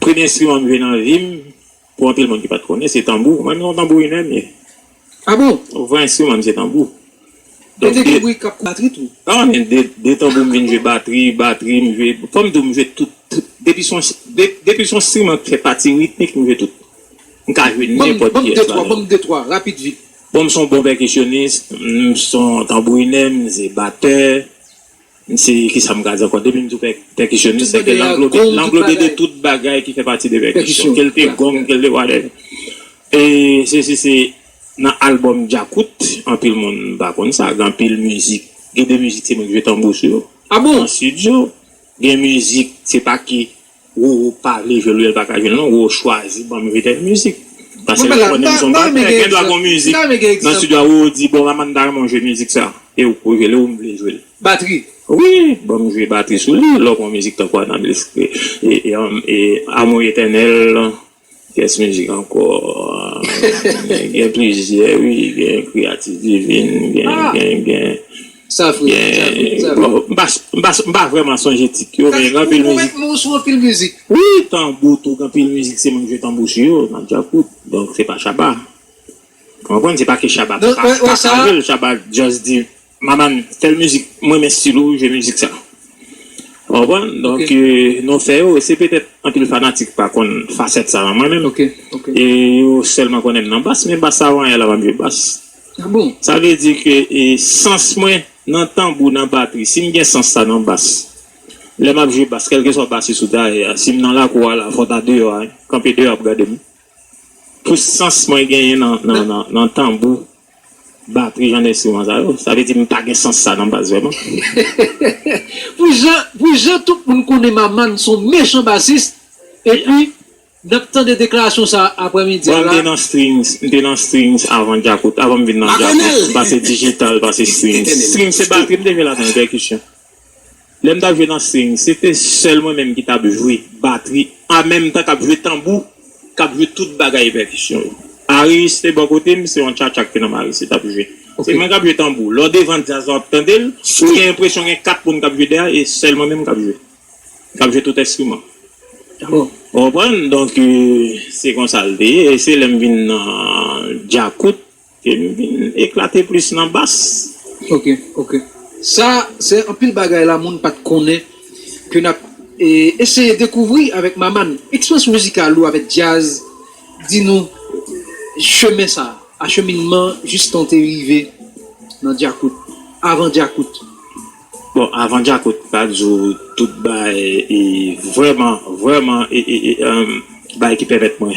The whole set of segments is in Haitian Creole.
Premye enstriman m jwe nan vi m, pou anpil moun ki pa t konnen, se tanbou. Mwen menm se yon tanbourinè m ye. A bon? Vrè enstriman m se tanbou. Gen de tanbourin k ap batri tou. A m gen de tanbou m vin jwe batri, batri m jwe. Fò m di w m jwe tout. Depi s on enstriman k fè pati ritmik m jwe tout. M ka jwe nenpòt pyès la dan. Ban m de twa, ban m de twa, rapid vit. Bon m son bon pèkisyonis, m son tanbourinè, m se batè, m se kisa m ka di ankò depi m di w pèkisyonis se ke l anglobe de tout bagay ki fè pati de pèkisyon ke l te gong ke l te whatever e sesi se nan albòm djakout anpil moun pa konn sa gen anpil mizik gen de mizik se mwen ki jwe tanbou sou yo an studio gen mizik se pa ki Roro pa vle jwel lel paka jwel non roro chwazi banm jwe kek mizik pase li konnen m son batè gen dwa gon mizik nan studio a roro di bon Amanda m ta renmen w jwe mizik sa e ou poko jwel e ou m vle jwel batri wi banm jwe batri sou li lè w pran mizik tankou anablis e amou etènèl. Kes mizik anko gen plizyè wi gen kreyatif divin gen gen m pa vreman sonje tit yo men gen anpil mizik wi tanbou tou gen anpil mizik se moun ki jwe tanbou sou yo nan djakout donk se pa shabba ou konprann se pa ke shabba paka jwel shabba just di. Maman fèl mizik m renmen stil ou jwe mizik sa ou konprann donk nou fè yo se petèt anpil fanatik pa konn fasèt sa nan mwen menm e yo sèlman konnen m nan bas men bas sa vanyan la map jwe bas sa vle di ke sans mwen nan tanbou nan batri si m gen sans sa nan bas lè map jwe bas kèlkeswa basis ou ta ye a si m nan lakou a la fò ta deyò a kanpe deyò ap gade m pou sans mwen genyen nan tanbou. Batri jan enstriman sa yo. Sa vle di m pa gen sans sa nan bas vreman. Pou jan pou jan tout moun konnen Maman son mechan basis epi nap tande deklarasyon sa aprè midi a la. Bon m te nan strings m te nan strings avan djakout avan m vin nan djakout m pase digital pase strings strings se batri m te jwe ladan l pèkisyon. Lè m t ap jwe nan swing, se te sèl mwen menm ki t ap jwe batri an menm tan k ap jwe tanbou, k ap jwe tout bagay pèkisyon yo. Aris te bò kote m, se yon tchatcha ki te nan Maris li t ap jwe. Se mwen k ap jwe tanbou. Lè w devan djaz la w ap tande l, ou gen enpresyon gen kat moun k ap jwe dèyè a e sèl mwen menm k ap jwe, k ap jwe tout enstriman. Ou konprann? Donk, se konsa l te ye. E se lè m vin nan djakout Ke m vin eklate plis nan bass. Ok ok sa se anpil bagay la moun pat konnen ke nap eseye dekouvri avèk Maman eksperyans mizikal ou avèk djaz di nou chemen sa acheminman jistan w te rive nan djakout avan djakout. Bon avan djakout pa di w tout bay vrèman vrèman bagay ki pèmèt mwen.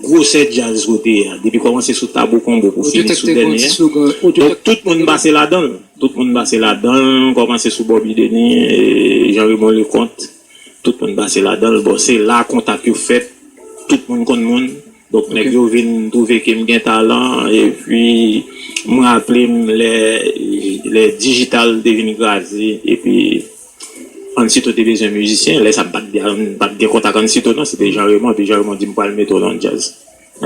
Gwosè djaz ou sou te a, depi kòmanse sou Tabou Combo pou fini sou dènye a, donk tout moun pase ladan l. Tout moun pase ladan l, kòmanse sou Bobby Denis, Jean Raymond Leconte, tout moun pase ladan l. Bon, se la kontak yo fèt, tout moun konn moun, donk nèg yo vin twouve ke m gen talan, epi m raple m lè dijital te vin kraze, epi. Ansito te bezwen mizisyen lè sa pat gen kontak Ansito non se te Jean Raymond epi Jean Raymond di m pral mete w nan djaz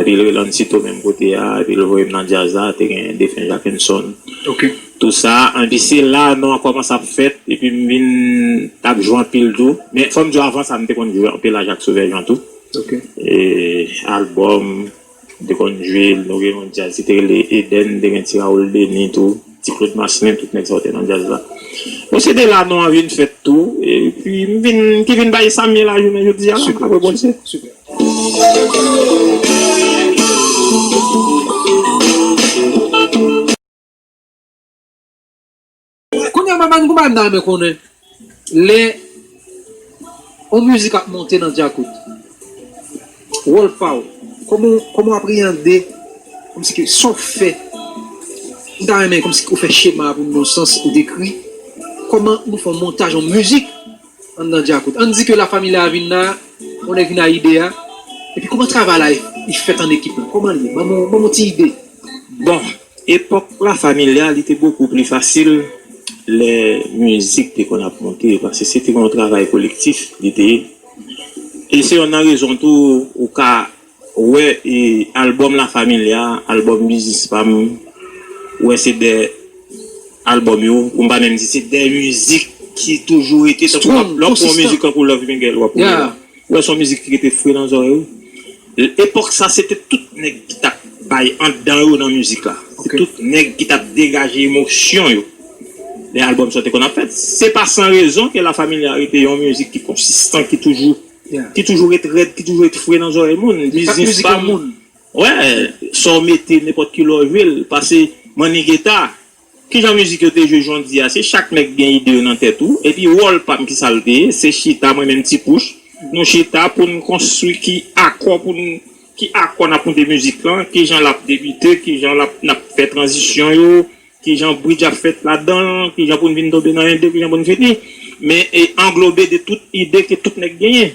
epi l rele Ansito menm kote a epi l voye m nan djaz la te gen defen Jackenson tou sa epi se la non an kòmanse ap fèt epi m vin t ap jwe anpil tou men fò m di w avan sa m te konn jwe anpil a Jacques Sauveur Jean tou e albòm. M te konn jwe l nou gen yon djaz ki te rele Eden te gen ti Raoul Denis tou ti Claude Marcelin tout nèg sa yo te nan djaz la bon se de la non an vin fèt tou epi m vin ki vin bay sa m ye la jounen jodi a la apre Bondye. Kounya map bann konpa nan men konnen lè yon mizik ap monte nan djakout wòl paw kòman kòman w apreyande kòmsi ke sa w fè m ta renmen kòmsi ke w fè chema a pou m nan sans ou dekri kòman nou fè yon montaj yon mizik anndan djakout ann di ke la familia vin la yon nèg vin a ide a epi kòman travay la e fèt an ekip la kòman l ye banm yon ti ide. Bon Epòk La Familia li te bokou pli fasil lè mizik te konn ap monte paske se te yon travay kolektif li te ye e se yonn nan rezon tou ou ka wè albòm La Familia, albòm Biznis pa m ou wè se de albòm yo pou m pa menm di se de mizik ki toujou rete tankou lè w ap pran yon mizik tankou Love Miguel w ap wè. Ou wè son mizik ki rete fre nan zòrèy ou. Epòk sa se te tout nèg ki tap bay andan yo nan mizik la. Se tout nèg ki tap degaje emosyon yo lè album sa te konn ap fèt. Se pa san rezon ke La Familia rete yon mizik ki konsistan, ki toujou ki toujou ret rèd, ki toujou ret fre nan zòrèy moun. Li pa mizik yon moun. Wè, sa w mete nenpòt kilè w jwe l. Pase Mannie Guetta. Kijan mizik yo te jwe jondi a se chak nèg gen ide yo nan tèt ou epi wòl pam kisa l te ye se chita mwen menm ti pouch nou chita pou n konstwi ki akò pou n ki akò n ap moute mizik lan kijan l ap debite kijan l ap n ap fè tranzisyon yo kijan bridj ap fèt ladan l kijan pou n vin tonbe nan 1 2 kijan pou n fini men anglobe de tout ide ke tout nèg genyen.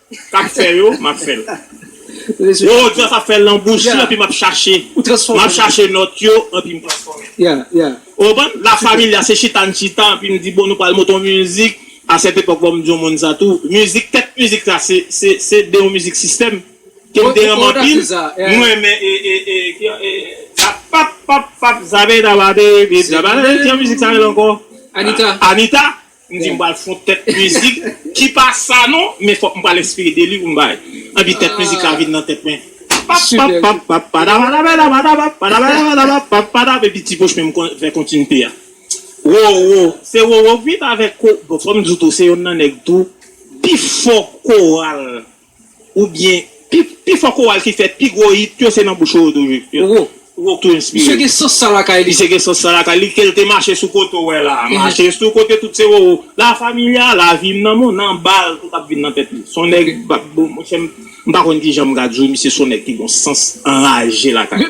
Kap fè yo map fèl. Woww Jeff ap fèl nan bouch li anpi map chache map chache nòt yo anpi m transfòmel. Ou konprann? La familia se chita n chita anpi m di bon nou pral monte yon mizik a cette époque fòm di yon moun sa tou mizik tèt mizik sa se se se de yon mizik sistèm ke m te renmen anpil m renmen e e e e zap pap pap pap zape tabate epi zape se yon mizik sa rele ankò Anita Anita M di m pral fon tèt mizik ki pa sa non, men fòk m pral enspire de li pou m bay. Enpi tèt mizik la vin nan tèt mwen. Papapapapapadapadabadabadabap, padabadabadabap, papadap, epi ti poch men m fè kontinite a. Roro, se Roro ki t avèk, bon fò m di w tou se yonn nan nèg tou pi fò koral. Ou byen, pi fò koral ki fè pi gwo hit yo se nan bouch Roro toujou. Roro k tou enspire. Misye gen sans sa lakay li. Misye gen sans sa lakay li kel te mache sou kote w wè la a. Mache sou kote tout se Roro. La familia, la vi m nan mou nan ba l tout ap vin nan tèt li. Son nèg monchè m pa konn kijan m ka di w misye son nèg ki gon sans anraje lakay.